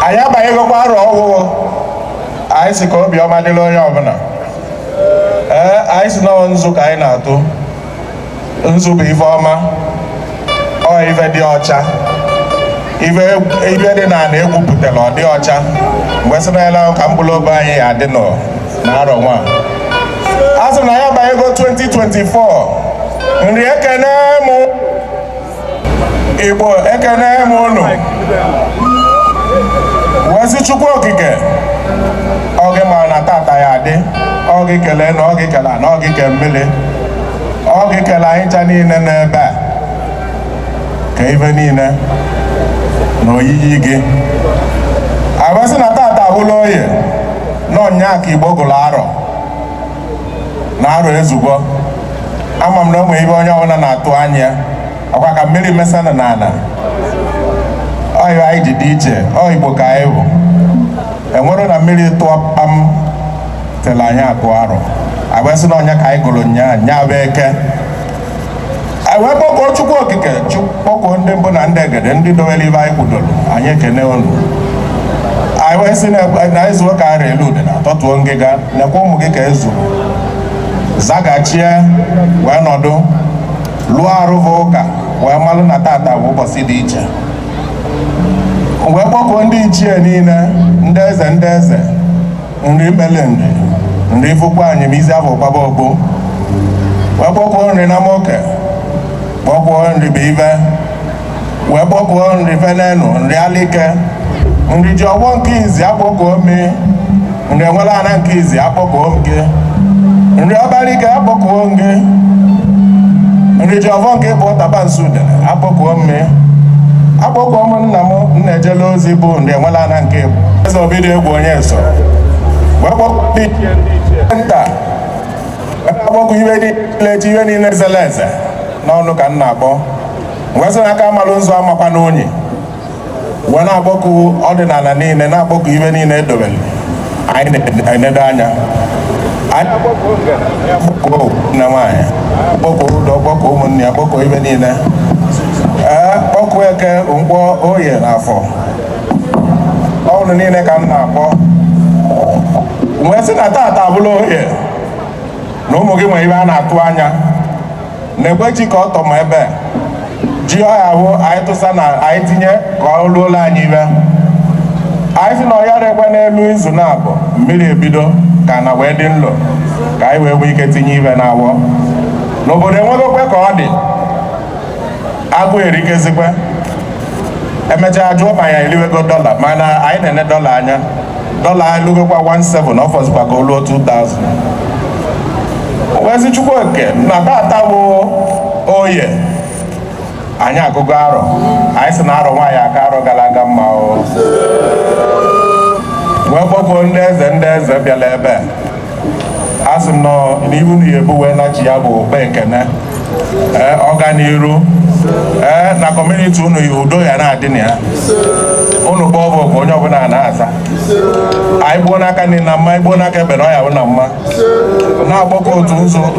anyị abanyegokwa arọ ọhụụ anyị sị ka obiọma dịrị onye ọbụla ee anyị sị na ọ nzu ka anyị na-atụ nzu bụ ife ọma ọ ife dị ọcha ife dị n'ana egwupụtara ọ dị ọcha wee sị na ele ahụ ka mkpụrụ obi anyị ya adị nọ na arọ nwa a sị na anyị abanyego 2024 nri ekene mụ Igbo ekene m unu wee sị Chukwu okike ọ gị ma na tata ya adị ọ gị kele enu ọ gị kele ana ọ gị ke mmiri ọ gị kele anyị ncha niile n'ebe a ka ife niile na oyiyi gị anyị wee sị na tata abụla oye na ọ nnyaa ka Igbo gụrụ arọ na arọ ezugo ama m na o nwere ife onye ọbụla na-atụ anya ọkwa ka mmiri mesanụ n'ana ọ ya anyị ji dị iche ọ igbo ka anyị bụ enwere na mmiri tụọ kpam tela anyị agụ arọ a bịa sị na ọ nnyaa ka anyị gụrụ nya nnyaa bụ eke wee kpọkuo chukwu okike kpọkuo ndị mbụ na ndị egede ndị dowere ife anyị kwudoro anyị ekene unu anyị wee sị na ezuo ka a ra eli udene a tọtuo ngịga nekwa ụmụ gị ka ezu zagachie wee nọdụ lụọ arụva ụka wee malụ na tata bụ ụbọchị dị iche wee kpọkuo ndị ichie niile ndị eze ndị eze nri mele nri ifikuanim izi afọ gbaba ogbo wee kpọkuo nri namoke kpọkuo nri bụife wee kpọkuo nri fenenu nri alike nri jiọfọ nke izi akpọkuo m gị nri enwelana nke izi akpọkuo m gị nri ọbalike akpọkuo m gị nri jiọfọ nke bụ tabansi udene akpọkuo m gị akpọkuo m nna m nna ejela ozi bụ nri enwelana nke eze obidiegwu onyeso nta akpọku ife niile ji ife niile zere eze na ọ unu ka m na-akpọ wee sị na aka amalụ nzu amakwa n'unyi wee na-akpọku ọdịnala niile na-akpọku ife niile edobere anyị na-enedo anya anyị akpọku nne nwaanyị akpọku udo akpọku ụmụnne ya akpọku ife niile ee kpọkuo eke nkwọ oye na afọ ọ unu niile ka m na-akpọ wee sị na tata abụla oye na ụmụ gị nwere ife a na-atụ anya nekwe ji ka ọ tọ ma ebe ji ọ ya abụ anyị tụsa na anyị tinye ka ọ ruola anyị ife anyị sị na ọ ya erekwe n'ime izu nabọ mmiri ebido ka ana wee dị nlo ka anyị wee nwee ike tinye ife na awọ n'obodo enwegokwe ka ọ dị agụụ erikezikwe emechaa jụọ ma ya eliwego dọla mana anyị na-ene dọla anya dọla elugokwa 17 ọ fọzikwa ka o luo 2000 wee sị chukwu okike na tata bụ oye anyị agụgo arọ anyị sị na arọ nwa ya-aka arọ gara aga mma o wee kpọkọọ ndị eze ndị eze bịara ebe a a sị m nọ n'ihu na ebu wee nachi ya bụ okpe ekene ee ọganiru ee na kọmuniti unu ya udo ya na-adị na ya unu kpọọ oku onye ọbụla na-aza anyị gbuo n'aka nni na mma i gbuo n'aka ekpe ọ ya-abụ na mma na-akpọkọ otu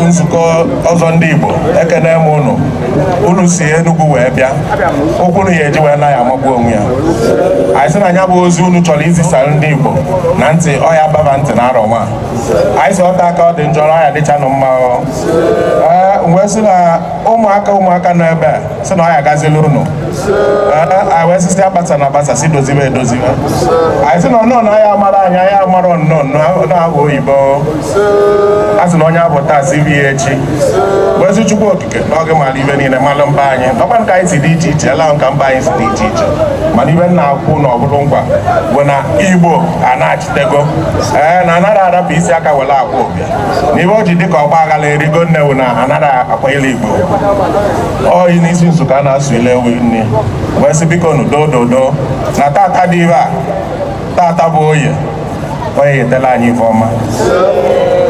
nzukọ ọzọ ndị Igbo ekene m unu unu si Enugu wee bịa ụkwụ unu ya-eji wee naa ya amagbu onwe ya anyị sị na ya bụ ozi unu chọrọ izisara ndị Igbo na ntị ọ ya-ababa ntị na arọ nwa anyị sị ọta aka ọ dị njọ ọ ya-adịchanụ mma ee wee sị na ụmụaka ụmụaka nọ ebe a sị na ọ ya-agazila unu anyị wee sisi agbasa na agbasa si doziwe edoziwe anyị sị na ọnụ na ya amara anyị anyị amara ọnụ na abụ oyibo a sị na onye abụ taa si echi wee sị Chukwu na ọ gị mara ife niile malụ mkpa anyị ọkwa ka anyị si dị iche iche ala ka mkpa anyị si dị iche iche mana ife nna akwụ na ọbụrụ nkwa bụ na igbo a na-achịtego ee na anaghị arapụ isi aka were akwa obi na ife o ji dịka ọgba aghara erigo nne wụ na anaghị akwanyere igbo oyi n'isi nzukọ a na-asụ ile ewu nne wee sị biko nu dododo na tata dị ibe a tata bụ oye oye wetela anyị ife ọma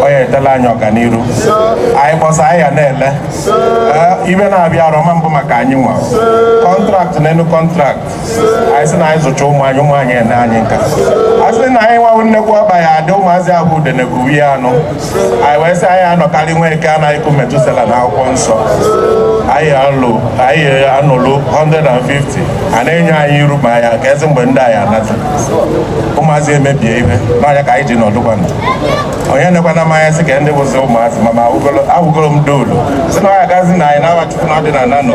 oye wetela anyị ọganiru anyị kpọsa anyị ya na-ele ibe na-abịa arọ ma mbụ maka anyị nwee kọntraktị n'elu kọntraktị anyị sị na anyị zụcha ụmụ anyị ụmụ anyị ene anyị nka a sị na anyị nwa nnekwu ọba ya adị ụmụazị abụ udenekuwi ya anụ anyị wee sị anyị anọkarịa nwoke a na-akụ metusela n'akwụkwọ nsọ anyị anọ anyị anọlụ 150 a na-enye anyị iru ma ya ka ezi mgbe ndị anyị anata ụmụazị emebie ihe n'ọnya ka anyị ji nọdụkwana onye nekwana mmanya sị ka ndị bụzi ụmụazị ma ma awụgoro m doolu sị na ọ ya-agazila anyị n'afa chukwu na ọdịnala nọ